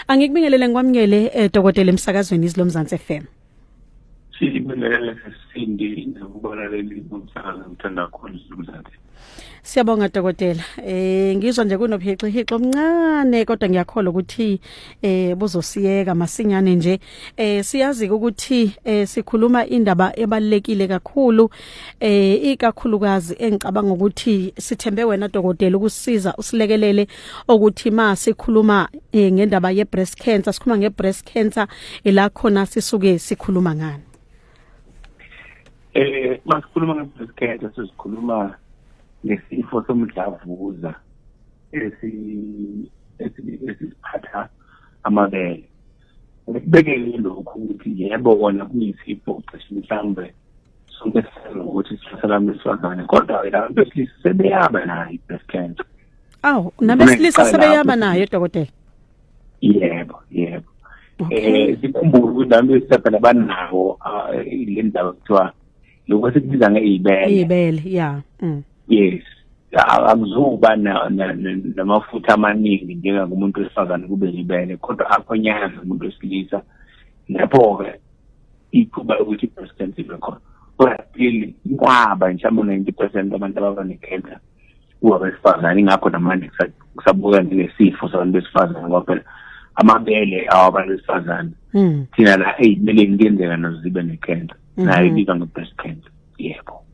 Angikubingelele ngikwamukele eh, dokotela emsakazweni izilo Mzansi FM. Sibingelele sesindi nokubalaleli umsakazo ngithanda khona izilo Mzansi. Siyabonga dokotela. Eh ngizwa nje kunobhixi hixo omncane kodwa ngiyakholwa ukuthi eh buzosiyeka masinyane nje eh siyazi ukuthi eh sikhuluma indaba ebalekile kakhulu eh ikakhulukazi engicabanga ukuthi sithembe wena dokotela ukusiza usilekelele ukuthi ma sikhuluma eh, ngendaba ye breast cancer sikhuluma nge breast cancer ela khona sisuke sikhuluma ngani eh masikhuluma nge breast cancer sizikhuluma ngesifo somdlavuza esi esiphatha amabele ukubekele lokhu ukuthi yebo kona kuyisipho cishe mhlawumbe sonke sisazi ukuthi sithatha lami besifazane kodwa-ke laba besilisa sebeyaba nayo i-breast cancer awu nabesilisa sebeyaba nayo dokotela yebo yebo um sikhumbule ukuthi abantu besifazane banawo ah, le ndaba kuthiwa lokho sikubiza ngeibele ibele yeah mm. yes akuzuba namafutha amaningi njengakumuntu wesifazane kube libele kodwa akhonyaza umuntu wesilisa lapho-ke ithuba lokuthi i-breast cancer ibe khona kodwa still kwaba mhlawumbe u-ninety percent abantu ababa ne-cancer kuwabesifazane ingakho namanje kusabuka njengesifo sabantu besifazane ngoba phela amabele awabantu besifazane hmm. thina la eyibeleni kuyenzeka nazo zibe ne-cancer mhm. nayo ibizwa nge-breast cancer yebo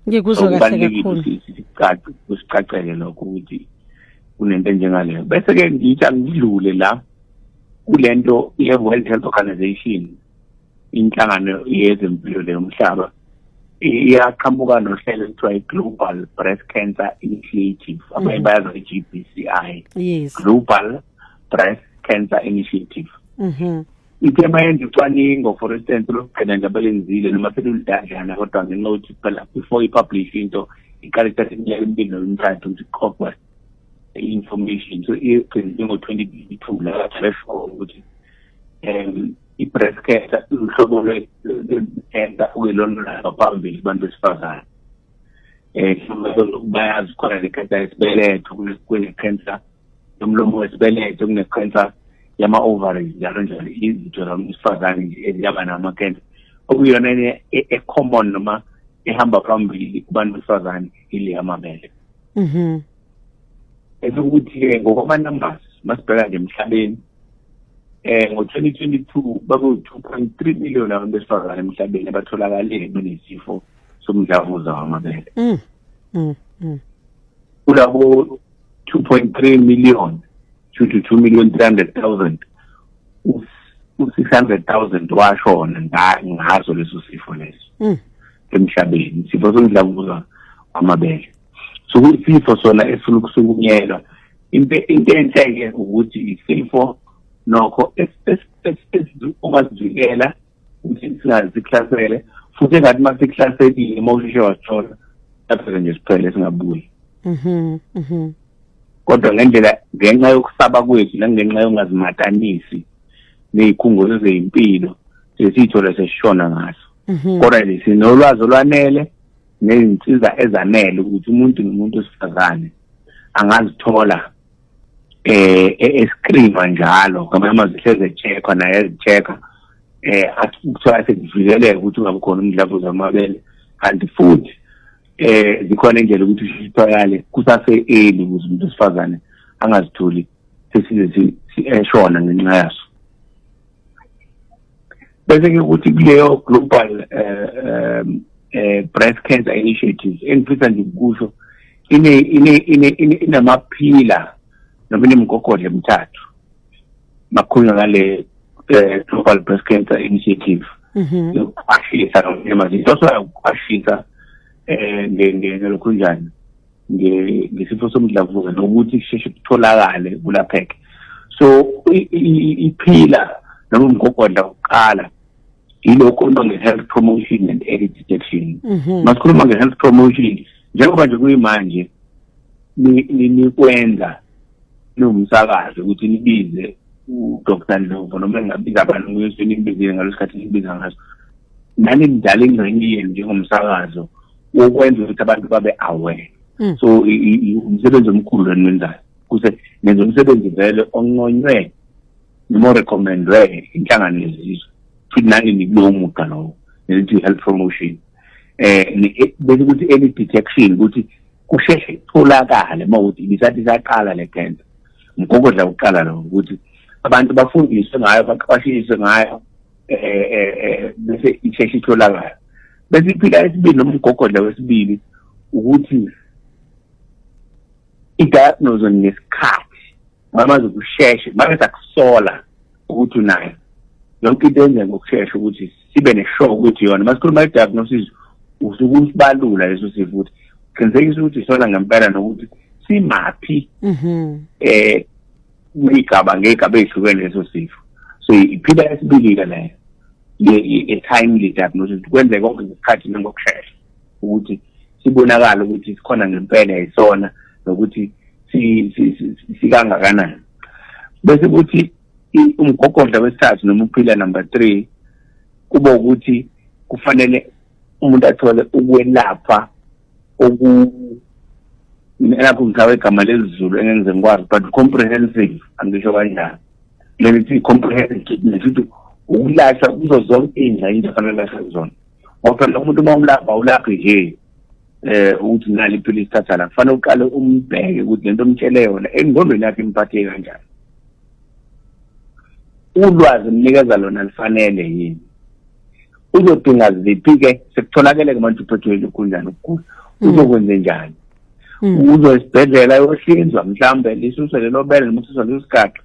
ngikuzwa kahle kakhulu kusicacele lokho ukuthi kunento enjengaleyo bese-ke ngithi angidlule la kule nto ye-world health organization inhlangano yezempilo leyomhlaba iyaqhamuka nohlelo ekuthiwa i-global breast cancer initiative abanye mhm. bayazi i-g b c i global breast cancer initiative mhm. ithe mayenza ucwaningo for instance lokugcina nje abalenzile noma selulidadlana kodwa ngenxa yokuthi phela before i-publish into iqale kuthatha iminyaka emibili nomthathu ukuthi kuqoqwa i-information so igcine njengo-twenty twenty two la threshold ukuthi um i-breast cancer uhlobo lwe-cancer okuyilona ngaphambili kubantu besifazane um bayazi khona le cancer yesibeletho kule-cancer nomlomo wesibeletho kunekhensa yama-ovaries njalo njalo izitho zamsifazane nje eziyaba namakensa okuyiyona e-common e-, noma ehamba phambili kubantu besifazane ile yamabele mhm esokuthi-ke ngokwama-numbers masibheka nje emhlabeni eh ngo-2022 bakuwu-2.3 million abantu besifazane emhlabeni abatholakale benesifo somdlavuza wamabele mm. Mm. Mm. kulabo 2.3 million to 2 million 300,000 u-600,000 washona ngazo leso sifo leso mm. emhlabeni isifo somdlavuza wamabele so kuyisifo sona esifuna ukusukunyelwa into enhle-ke ukuthi isifo nokho ongasivikela singazi kuhlasele futhi engathi uma sikuhlaselile uma usheshe wasithola lapho-ke nje siphele singabuyi mhm, mhm. kodwa ngendlela ngenxa yokusaba kwethu nangenxa yongazimatanisi ney'khungo zezey'mpilo sesiyithole sesishona ngaso mhm. kodwa nje sinolwazi olwanele nezinsiza ezanele ukuthi umuntu nomuntu wesifazane angazithola eh e-, escreenwa njalo ngamanye amazwi hleze checkwa naye ezichecka eh akuthiwa sekuvikeleke ukuthi ungabe khona umdlavuza wamabele kanti futhi eh zikhona indlela ukuthi sithwakale kusase early ukuze umuntu wesifazane angazitholi sesize siyashona ngenxa yaso bese ke ukuthi kuleyo global eh, eh, eh, breast cancer initiative engifisa nje ukusho ine ine ine inamaphila noma inemgogodla emithathu makhulunywa ngale eh, global breast cancer initiative mhm. yokuqwashisa noma izinto sokuqwashisa eh ngelokhu njani ngesifo somdlavuza nokuthi kusheshe kutholakale kulapheke so iphila noma umgogodla wokuqala yilokho into nge-health promotion and early detection mhm. masikhuluma nge-health promotion njengoba nje kuyimanje nikwenza niwumsakazi ukuthi nibize udr novo noma engabiza abantu kuyosuke nimbizile ngalo sikhathi nibiza ngaso nani mdala ingxenye yenu njengomsakazo ukwenza ukuthi abantu babe aware hmm. so umsebenzi omkhulu lweni wenzayo kuze nenza umsebenzi vele onqonywe noma recommendwe inhlangano yezizwe futhi nani nikulowo mugqa lowo nelithi health promotion eh e, bese ukuthi early detection ukuthi kusheshe kutholakale uma ukuthi ibisathi saqala le cancer mgogodla kuqala lo ukuthi abantu bafundiswe ngayo baqwashiswe ngayo eh eh, eh bese isheshe itholakala bese iphika esibili noma umgogodla wesibili ukuthi i-diagnose ngesikhathi mamazi ukusheshe mase sakusola ukuthi unayo yonke into yenze ngokushesha ukuthi sibe ne-show ukuthi yona uma sikhuluma i-diagnosis usuke usibalula leso sifo ukuthi qinisekisa ukuthi isona ngempela nokuthi simaphi um kuyigaba ngegaba ezihlukene leso sifo so iphila esibilile leyo i-timely diagnosis kwenzeka konke ngesikhathi nangokushesha ukuthi sibonakala ukuthi sikhona ngempela yisona nokuthi sikangakanani bese kuthi umgogodla wesithathu noma uphila number three kuba ukuthi kufanele umuntu athole ukwelapha oku elakho ngithawe igama lezulu engenze ngikwazi but comprehensive angisho kanjani leli thi comprehensive treatment ukuthi ukulahla kuzo zonke iy'ngxenye into afanele lahle kuzona ngoba phela umuntu uma umlapha awulaphi nje eh ukuthi nali iphilisi thatha la kufanele uqale umbheke ukuthi lento omtshele yona engqondweni yakhe imphathe kanjani ulwazi mnikeza lona lifanele yini uzodinga ziphi-ke sekutholakele-ke manje uphethweli ukhunjani ukugula mm. uzokwenze njani mm. uzo esibhedlela yohlinzwa mhlawumbe lisuse lelo bele noma ususwa leso sigaxa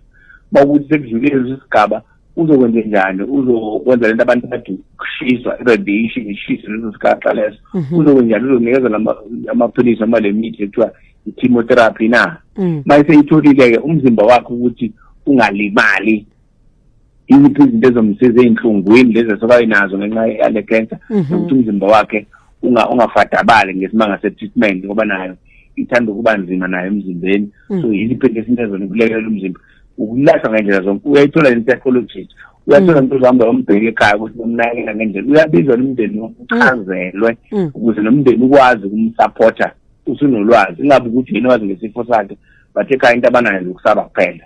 uma ukuthi sekudlulile leso sigaba uzokwenze njani uzokwenza lento abantu bathi kushiswa iradiation ishise leso sigaxa leso mhm. uzokwenze njani uzonikeza amaphilisi noma le mithi ekuthiwa i-chemotherapy na mm. uma eseyitholile-ke umzimba wakhe ukuthi ungalimali yiziphi izinto ezomsiza ey'nhlungwini lezi esuka enazo ngenxa yale cancer mhm. nokuthi umzimba wakhe ungafadabali ngesimanga se-treatment ngoba nayo ithanda ukuba nzima nayo emzimbeni mm. so yiziphi into esinto ezona ukulekelela umzimba ukulashwa ngendlela zonke uyayithola ne-psychologist uyathola mm. umuntu uzohamba yombheka ekhaya ukuthi bamnakekela ngendlela uyabizwa nomndeni uchazelwe mm. mm. ukuze nomndeni ukwazi ukumsapotha usunolwazi ingabe ukuthi yini wazi ngesifo sakhe bathe cha into abanayo nje ukusaba kuphela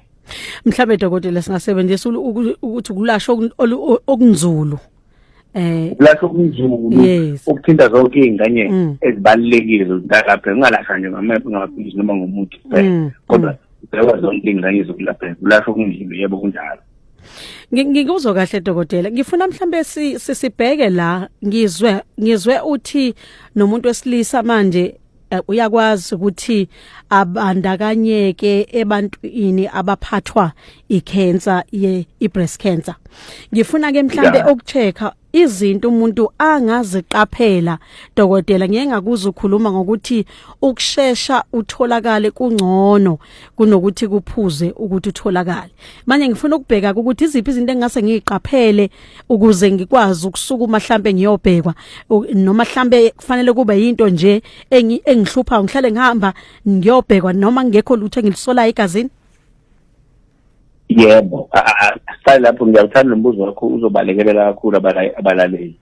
mhlawumbe dokotela singasebenzisa ukuthi ukulasha okunzulu eh ukulahla okunzulu okuthinta zonke izingane mm. ezibalekile zokulalapha ungalahla nje ngamephi ngamaphilisi noma ngomuthi kuphela mm, kodwa mm. ubheka zonke izingane zokulapha ukulahla okunzulu yebo kunjalo ngikuzwa kahle dokotela ngifuna mhlambe sisibheke la ngizwe ngizwe uthi nomuntu wesilisa manje Eh, uyakwazi ukuthi abandakanyeke ebantwini abaphathwa icancer ye ibreast cancer ngifuna ke mhlambe ukuchecka izinto umuntu angaziqaphela dokotela ngeke ngakuza ukukhuluma ngokuthi ukushesha utholakale kungcono kunokuthi kuphuze ukuthi utholakale manje ngifuna ukubheka ukuthi iziphi izinto engase ngiziqaphele ukuze ngikwazi ukusukuma mhlambe ngiyobhekwa noma mhlambe kufanele kube yinto nje engihlupha ngihlale ngihamba ngiyobhekwa noma ngekho lutho engilisolayo egazini yebo sale lapho ngiyawuthanda nombuzo wakho uzobalekelela kakhulu abalaleli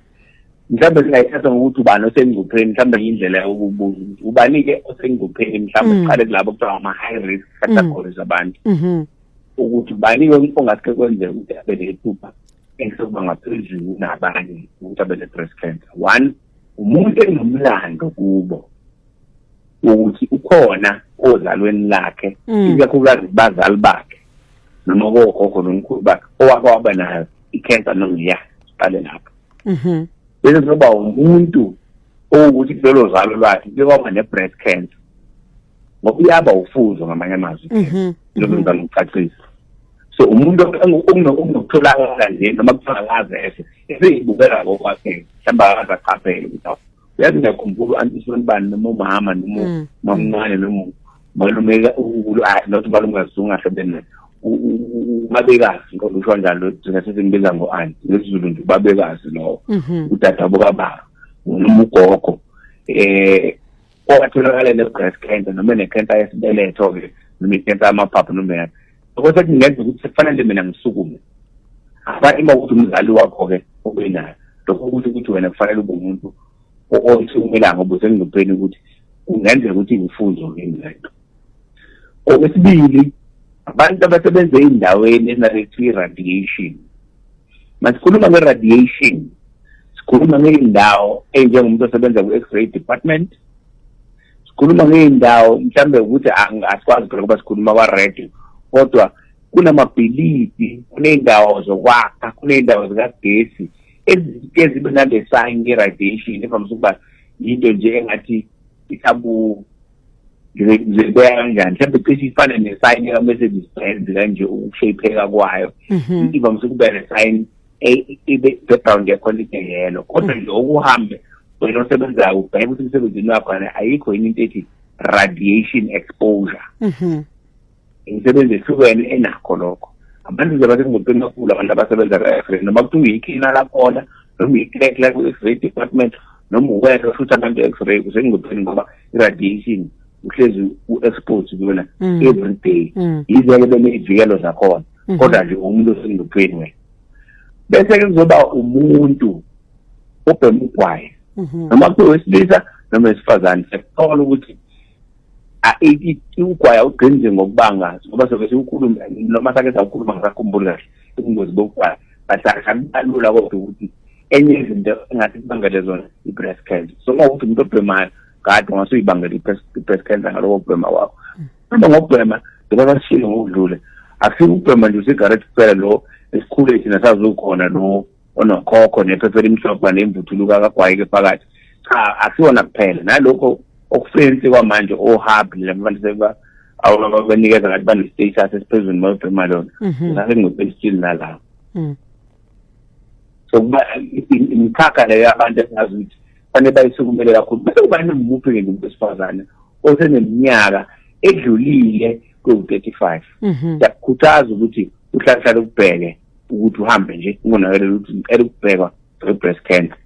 mhlawumbe singayithatha ngokuthi ubani osengcupheni mhlawumbe yindlela yokubuza ukuthi ubani-ke osengcupheni mhlawumbe mm. siqale kulabo kuthiwa ama-high risk categories mm. abantu mm-hmm. ukuthi bani-ke ongaske kwenzeka ukuthi abe nephupha esokuba ngaphezulu kunabanye ukuthi abe ne-breast cancer one umuntu enomlando kubo ukuthi ukhona ozalweni lakhe mm. ikakhulukazi bazali bakhe noma kogogo nomkhulu bakhe owake waba nayo i-cancer nongiya siqale lapho mm-hmm. bese kuzoba umuntu owukuthi kulolo zalo lwakhe kuyokwaba ne-breast cancer ngoba uyaba ufuzo ngamanye amazwi mhm. njengoba ngizama mhm. ukucacisa so umuntu okungokutholakala nje noma kutholakaze ese eseyibukela ngokwakhe mhlawumbe akaze achaphele ukuthi awu uyazi ngiyakhumbula u-antisoni bani noma umama noma mm. mamncane noma malume unkulu ah, not balungazunga sebene ubabekazi ngoba usho njalo thina sesimbiza ngo-anti ngesizulu nje ubabekazi lowo mhm. udadabo kababa noma ugogo um owatholakala ne-breast cancer noma ne-cancer yesibeletho-ke noma i-cancer yamaphaphu noma yani lokho sekungenzeka ukuthi sekufanele mina ngisukume afani uma ukuthi umzali wakho-ke obenayo lokho ukuthi ukuthi wena kufanele ube umuntu osukumelanga ubuze engcupheni ukuthi kungenzeka ukuthi ngifunzo kimi lento okwesibili abantu abasebenza ey'ndaweni ezinalethwa i-radiation masikhuluma nge-radiation sikhuluma ngey'ndawo ey'njengomuntu osebenza ku-x-ray department sikhuluma ngey'ndawo mhlawumbe ukuthi asikwazi phela ukuba sikhuluma kwa-radio kodwa kunamabhilidi kuney'ndawo zokwakha kuney'ndawo zikagesi ezike zibe nale sign ye-radiation evamise ukuba yinto nje engathi isabu zibeka kanjani mhlawumbe cishe ifane nesayini likamercedes benz kanje ukushayipheka kwayo mhm. ivamise ukuba nesayini e, i-background yakhona ibe yelo kodwa nje okuhambe wena osebenzayo ubheke ukuthi emsebenzini wakho ayikho yini into ethi radiation exposure mhm. imisebenzi ehlukene enakho lokho abantu nje basekungontweni kakhulu abantu abasebenza ka-fre noma kuthi uyikhina lakhona noma uyi-crack la kwi-x-ray department noma uwena futhi abantu e-x-ray kusengontweni ngoba i-radiation uhlezi u-expose kuyona mm. every day mm. yize-ke beney'vikelo zakhona mm-hmm. kodwa nje umuntu osengontweni wena bese-ke kuzoba umuntu obhema ugwayi mm-hmm. noma kuthiwa wesilisa noma wesifazane siyakuthola ukuthi ukugwaya ugqinze ngokubanga ngoba soke siwukhulume noma sake sawukhuluma ngisakhumbuli kahle ubungozi bokugwaya but akubalula kodwa ukuthi enye izinto engathi kubangele zona i-breast cancer so uma ukuthi umuntu obhemayo kade ungase uyibangele i-breast cancer ngaloko kubhema kwakho uma ngokubhema njengoba sishilo ngokudlule akusibe ukubhema nje usigarette kuphela lo esikhule thina sazukhona lo onokhokho nephepha elimhlophe nemvuthuluka kagwayike phakathi cha akusiwona kuphela nalokho okufensi kwamanje ohub labantu seba ababanikeza ngathi bane-status esiphezulu mayobhema lona mhm. ngase ngingopesitshini nalawo mm. so kuba imikhakha leyo yabantu esingazi ukuthi fanele bayisukumele kakhulu bese kuba nomuphi ngenye umuntu wesifazane oseneminyaka edlulile kwewu-35 mhm. siyakukhuthaza ukuthi uhlalahlale ukubheke ukuthi uhambe nje ungonakelela ukuthi ngicela ukubhekwa nge-breast cancer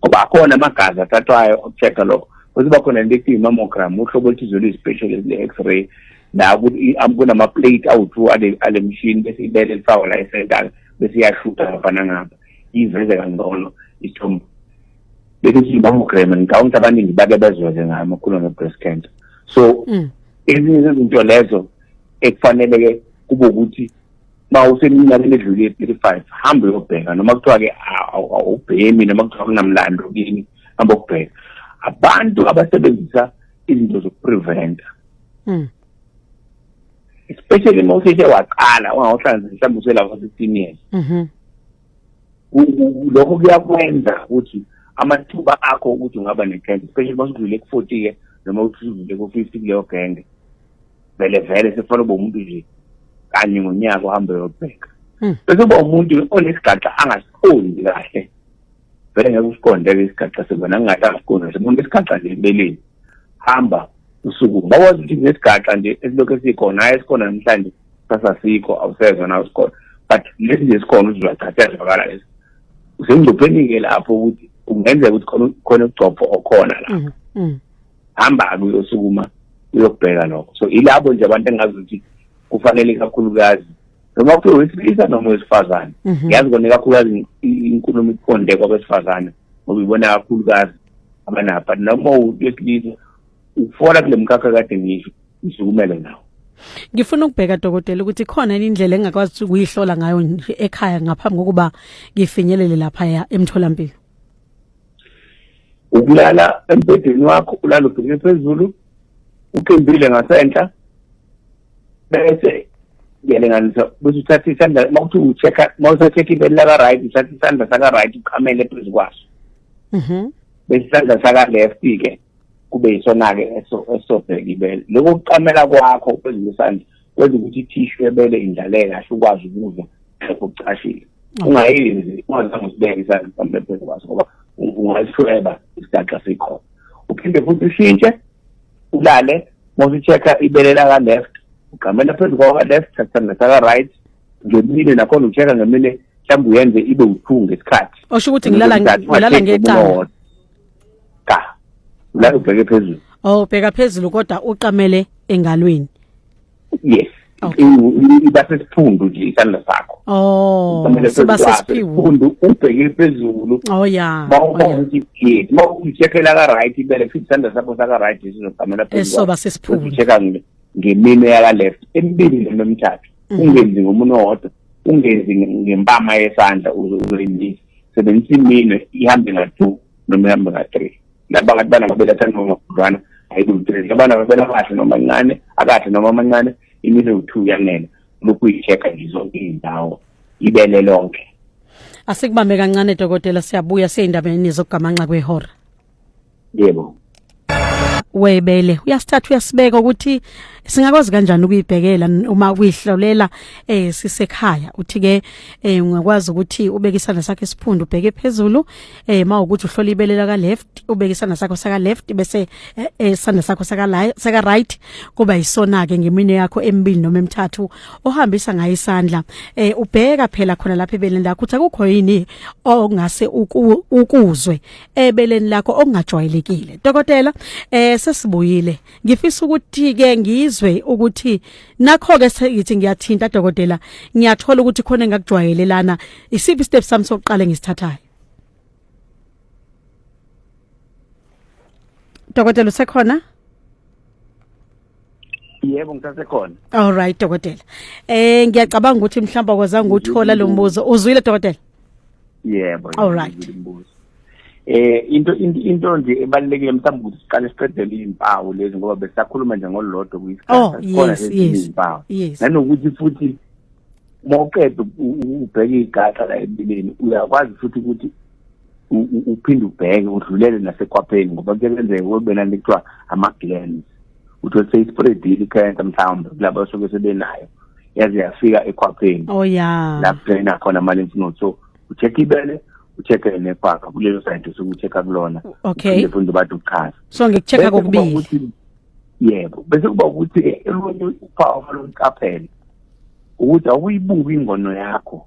ngoba akhona amagazi athathwayo okucheck-a lokho bese kuba khona into ekuthiwa i-mammogram uhlobo oluthize oluyi-specialist le-x-ray la kunama-plate awu-two ale mshini bese ibele lifakwa la esentala bese iyashutha ngapha nangapha iveze kangcono isithombo bese sithi i-mammogram ngicabanga ukuthi abaningi bake bezweze ngayo amakhulu nge-breast cancer so mm. ezinye zezinto lezo ekufanele-ke kube ukuthi ba useminyakeni edlule thirty five hambe uyobheka noma kuthiwa-ke awubhemi noma kuthiwa kunamlando kini hambe ukubheka abantu abasebenzisa izinto zokupreventa hmm. especially uma useshe waqala ungawuhlanzisa mhlawumbe uselapha sixteen years mhm. lokho kuyakwenza ukuthi amathuba akho ukuthi ungaba ne-cancer especially uma usudlule ku-forty-ke noma usudlule ku-fifty kuleyo genge vele vele sefana ube umuntu nje kanye ngonyaka uhambe uyobheka hmm. bese uba umuntu onesigaxa angasiqondi kahle vele ngeke usiqonde-ke isigaxa sekona ngingathi angasiqondi semuntu isigaxa nje empeleni hamba usuku bakwazi ukuthi nesigaxa nje esilokhu esikhona hayi esikhona namhlanje sasasikho awusezwa na usikhona but lesi nje sikhona uzizwachatha yazwakala lesi usengcupheni-ke lapho ukuthi kungenzeka ukuthi khona ugcobho okhona lapho hmm, hmm. hamba-ke uyosukuma uyokubheka lokho so ilabo nje abantu engazi ukuthi kufanele kakhulukazi noma kuthiwa wesilisa noma wesifazane mhm. ngiyazi kona kakhulukazi inkulumo iqonde kwabesifazane ngoba ibona kakhulukazi abanabo but noma wesilisa ufola kule mkhakha kade ngisho usukumele nawo ngifuna ukubheka dokotela ukuthi khona indlela engakwazi ukuyihlola ngayo ekhaya ngaphambi kokuba ngifinyelele lapha emtholampilo ukulala embhedeni wakho ulala ubheke phezulu uqimbile ngasenhla bese ngiyalinganisa bese uthatha isandla uma kuthi ucheck-a uma usacheck-a ibeli laka-right uthatha isandla saka-right uqhamele phezu kwaso mhm. bese isandla saka-left-ke kube yisona-ke esobheka ibele lokho kuqamela kwakho phezu kwesandla kwenza ukuthi ithishu ebele indlaleke kahle ukwazi ukuzwa lapho kucashile ungayenzi ungazange usibeke isandla mhlawumbe phezu kwaso ngoba ungasishweba isigaxa sikhona uphinde futhi ushintshe ulale mawusi-check-a ibele laka-left ugqamela phezu kwaka-left thathana saka-right ngemine nakhona ucheck-a ngemine mhlawumbe uyenze ibe wuthunga isikhathi osho ukuthi ngilala ngecala cha la ubheke phezulu oh bheka phezulu kodwa uqamele engalweni yes Okay. iba sesiphundu nje isandla sakho oh siba sesiphundu ubheke phezulu oh yeah bawubona oh, ukuthi yes mawucheckela ka right ibele futhi isandla sakho saka right sizoqamela phezulu esoba sesiphundu checka ngemine yaka left emibili nomthathu mhm. ungenzi ngomunwe wodwa ungenzi ngempama yesandla uzoyindisa sebenzisa imine ihambe nga-two noma ihambe nga-three laba kanti bana babeletha noma khudlwana ayikuluthree labana babela kahle noma ncane akahle noma amancane imine u-two yanele lokhu uyi-check-a nje zonke iy'ndawo ibele lonke asikubambe kancane dokotela siyabuya seyindabeni zokugamanxa kwehora yebo webele uyasithatha uyasibeka ukuthi singakwazi kanjani ukuyibhekela uma kuyihlolela eh sisekhaya uthi ke eh ungakwazi ukuthi ubeke isandla sakhe esiphundu ubheke phezulu eh mawukuthi uhlola ibele laka left ubeke isandla sakho saka left bese eh, eh, isandla sakho saka saka right kuba isona ke ngemine yakho emibili noma emithathu ohambisa ngayo isandla eh ubheka phela khona lapha ebeleni lakho ukuthi akukho yini ongase ukuzwe ebeleni lakho okungajwayelekile dokotela eh sesibuyile ngifisa ukuthi ke ngizwe ukuthi nakho ke sengithi ngiyathinta dokotela ngiyathola ukuthi khona engakujwayelelana isiphi step sami sokuqala ngisithathayo dokotela usekhona yebo ngisasekhona all right dokotela eh ngiyacabanga ukuthi mhlawumbe kwazange nguthola lo mbuzo uzwile dokotela yebo all right eh into into nje ebalekile mhlawumbe ukuthi siqale siqedele izimpawu lezi ngoba besakhuluma nje ngolodwa kuyisikhathi oh, khona izimpawu nanokuthi futhi mawuqeda ubheke igaxa la empilweni uyakwazi futhi ukuthi uphinde ubheke udlulele nasekhwapheni ngoba kuyenzeka kwebena into kuthiwa ama-glans uthi othe ispreadile ikhensa mhlawumbe kulabo asuke sebenayo yaze yafika ekhwapheni oh ya la kudraina khona ama-lymph node so ucheck ibele ucheck-e nephaka kulelo side osuke ucheck-a kulona okay fundi bathi ukuchaza so ngikucheck-a kokubili yebo bese kuba ukuthi elunye uphawu olungiqaphele ukuthi awuyibuki ingono yakho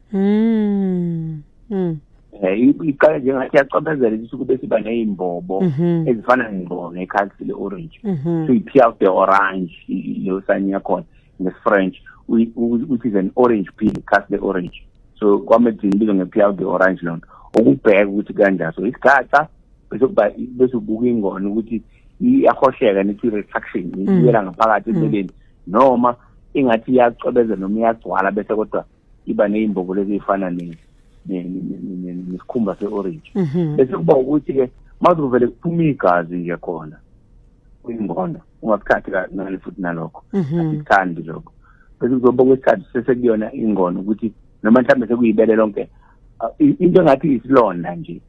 mm. Mm. Eh, iqale njengathi yacobezela ukuthi kube siba ney'mbobo mhm. ezifana ney'mbobo nekhalisi le-orange mhm. so i-pea of the orange leyo sani yakhona ngesi-french which is an orange pea khasi le-orange so kwamedini ibizwa nge-pea of the orange loo nto ukubheka ukuthi kanjani so isikhatha bese kuba bese ubuka ingona ukuthi iyahosheka nethi retraction mm. iyela ngaphakathi mm. empeleni noma ingathi iyacwebeza noma iyagcwala bese kodwa iba nezimbobolo ezifana ne nesikhumba se-orange mhm. bese kuba ukuthi ke mazuvele kuphuma igazi nje khona kwingondo ungakuthathi kancane futhi nalokho mhm. asikuthandi lokho bese kuzoba kwesikhathi sesekuyona ingono ukuthi noma mhlawumbe sekuyibele lonke into engathi isilonda nje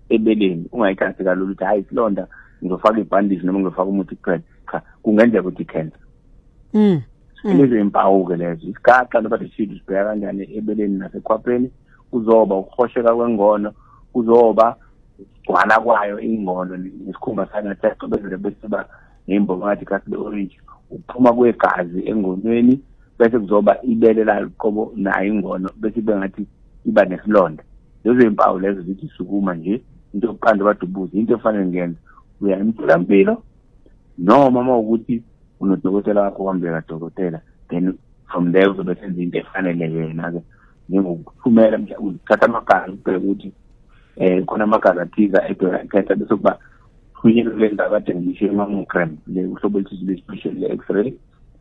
ebeleni ungayithathi kalula ukuthi hayi isilonda ngizofaka ibhandisi noma ngizofaka umuthi kuphela cha kungenzeka ukuthi i-cancer mm. mm. lezi impawu-ke lezo isigaxa loba thishidi sibheka kanjani ebeleni nasekhwapheni kuzoba ukuhosheka kwengono kuzoba ukugcwala kwayo ingono nesikhumba sangathi yacobezele bese ba ney'mbongo ngathi kasi be-orange ukuphuma kwegazi engonweni bese kuzoba ibele layo qobo nayo ingono bese ibe ngathi iba nesilonda lezo y'mpawu lezo zithi sukuma nje into yokuqanda badubuze into efanele ngiyenza uya emtholampilo noma uma ukuthi unodokotela wakho kwambeka dokotela then from there uzobe senza into efanele yena-ke njengokuthumela uthatha amagazi ubheke ukuthi um khona amagazi athiza edwela ikhetha bese kuba thunyelwe kule ndawo kade ngisho i-mammogram le uhlobo oluthize lwe-special le-x-ray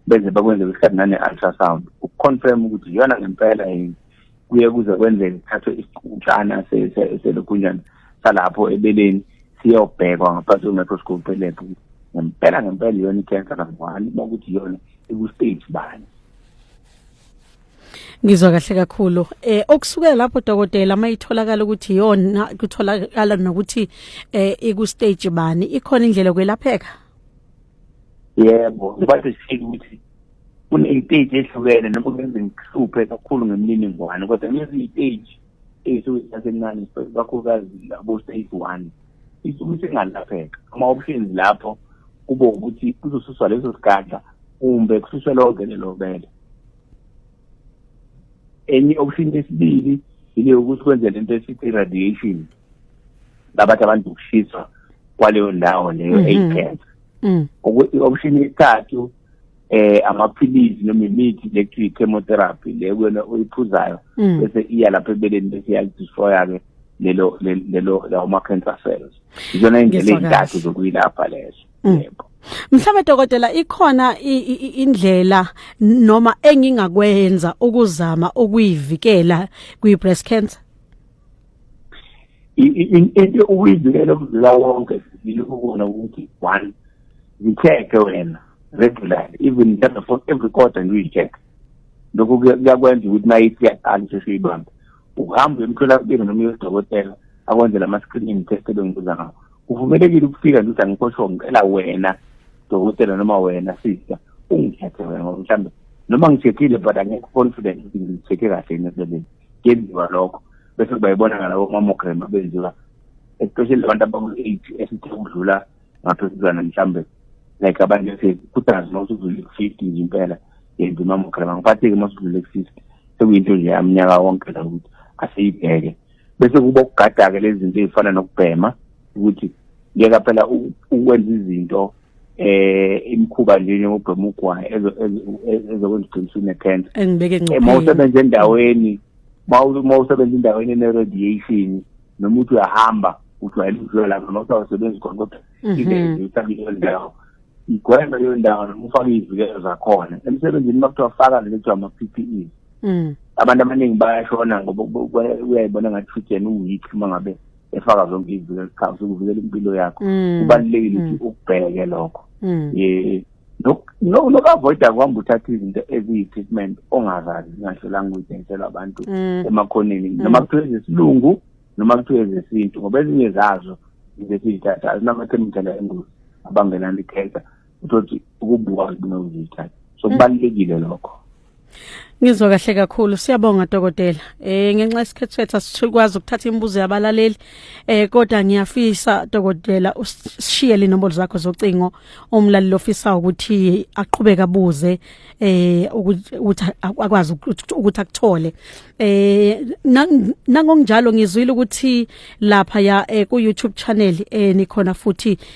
beze bakwenze kwesikhathi nane-ultrasound ukuconfirm ukuthi iyona ngempela yini kuye kuze kwenzeke kuthathwe isiqutshana selokhunjana salapho ebeleni siyobhekwa ngaphansi kwe-microscope elebhu ngempela ngempela iyona i-cancer number one uma ukuthi iyona iku-stage bani ngizwa kahle kakhulu eh okusukela lapho dokotela mayitholakala ukuthi yona kutholakala nokuthi eh iku stage bani ikhona indlela kwelapheka yebo bathi sifike ukuthi kuney'teji ehlukene noma kungenza ngihluphe kakhulu ngemininingwane kodwa ngenza iy'teji ey'suke zisasencane kakhulukazi abo-stage one isuke isingalapheka ama-options lapho kube ukuthi kuzosuswa leso sigadla kumbe kususwe lonke lelo bele enye i-option yesibili ile yokuthi kwenze lento esithi i-radiation labathi abantu ukushiswa kwaleyo ndawo leyo mm-hmm. eyicancer mm. i-option yesithathu eh amaphilisi noma imithi lekuthiwa i-chemotherapy le kuyona oyiphuzayo mm. bese iya lapha ebeleni bese iyalidestroya-ke lelo lelo lawo ma-cancer cells izona indlela ezintathu zokuyilapha lezo mm. yebo Mhlawumbe dokotela ikhona indlela noma engingakwenza ukuzama ukuyivikela kwi breast cancer into ukuyizikela umzila wonke sibili ukubona ukuthi one zicheck wena regularly even just for every quarter and we check lokho kuyakwenza ukuthi nayo iyaqala sesiyibamba ukuhamba emtholampilo noma uyodokotela akwenzela ama-screening test ebengibuza ngawo kuvumelekile ukufika nje ukuthi angikosho ngicela wena dokotela noma wena sister ungithethe wena ngoba mhlawumbe noma ngithethile but angekho confident ukuthi ngithetheke kahle yini emsebenzini kuyenziwa lokho bese kuba yibona ngalabo mamogram abenziwa especially abantu abaku-eight esithe kudlula ngaphezuzana mhlawumbe like abantu bese kudaz uma usudlule ku-fifty nje impela yenza imamogram angiphatheki uma usudlule ku-fifty sekuyinto nje yamnyaka wonke la ukuthi asiyibheke bese kuba ukugada-ke lezi zinto ey'fana nokubhema ukuthi ngeke phela ukwenza izinto eh imkhuba nje njengobhema ugwayi ezokwenza uqinisile necancer engibeke ngcopheni uma usebenza endaweni uma usebenza endaweni ene-radiation noma uthi uyahamba ujwayele ukudlula lapho noma usawasebenzi khona kodwa mhm. ingeke usabe leyo ndawo igweme leyo ndawo noma ufake izivikelo zakhona emsebenzini uma kuthiwa faka lento kuthiwa ama-p p e mm. abantu abaningi bayashona ngoba uyayibona ngathi futhi yena uweak uma ngabe efaka zonke izinto eziqhamuza ukuvikela impilo yakho mm. kubalulekile ukuthi mm. ukubheke lokho mm. eh nokavoida kwamba uthatha izinto eziyi-treatment ongazazi zingahlolanga ukuyidayisela abantu emakhoneni noma kuthiwa ezesilungu noma kuthiwa ezesintu ngoba ezinye zazo izinto esizithathayo zinamathe imithela engozi abangenani ikhetha uzothi ukubuka kunozitha so mm. kubalulekile lokho Ngizwa kahle kakhulu siyabonga dokotela. Eh ngenxa isikhathi sethu asikwazi ukuthatha imibuzo yabalaleli. Eh kodwa ngiyafisa dokotela usishiye linombolo zakho zocingo umlaleli ofisa ukuthi aqhubeke abuze eh ukuthi akwazi ukuthi akuthole. Eh nangonjalo ngizwile ukuthi lapha ya eh, ku YouTube channel eh nikhona futhi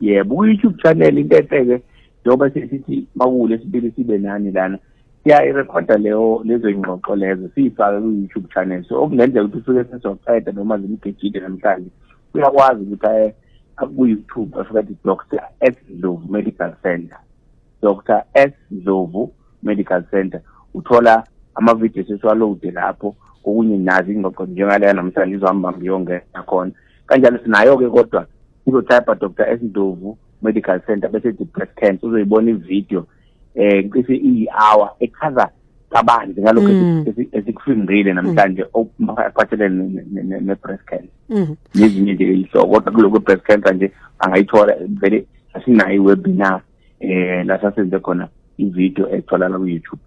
yebo ku-youtube channel into enhle-ke njengoba sesithi makule sibili sibe nani lana siyayirekhoda leyo lezo yingxoxo lezo siyifake ku-youtube channel so okungenzeka ukuthi ufike sezoqeda noma zimgejile namhlanje uyakwazi ukuthi aye aku-youtube afika athi dr s ndlovu medical center dr s ndlovu medical center uthola amavidiyo sesiwalowude lapho kokunye nazi ingxoxo njengaleya namhlanje izohamba ngiyongena khona kanjalo sinayo-ke kodwa uzotypa dr s ndovu medical center bese ethi breast cancer uzoyibona ividiyo um eh, cishe iyi-hour echaza kabanzi ngalokho mm. esikufundile namhlanje mm. okuphathelene ne-breast cancer mm. nezinye nje ihloko kodwa kulokho breast cancer nje angayithola vele asinayo i-webinar eh la sasenze khona ivideo etholakala ku-youtube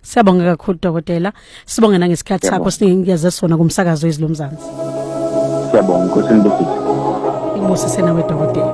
siyabonga kakhulu dokotela sibonge nangesikhathi sakho sinikeze sona kumsakazo wezwi lomzansi siyabonga nkosi nibusise ibusise nawe dokotela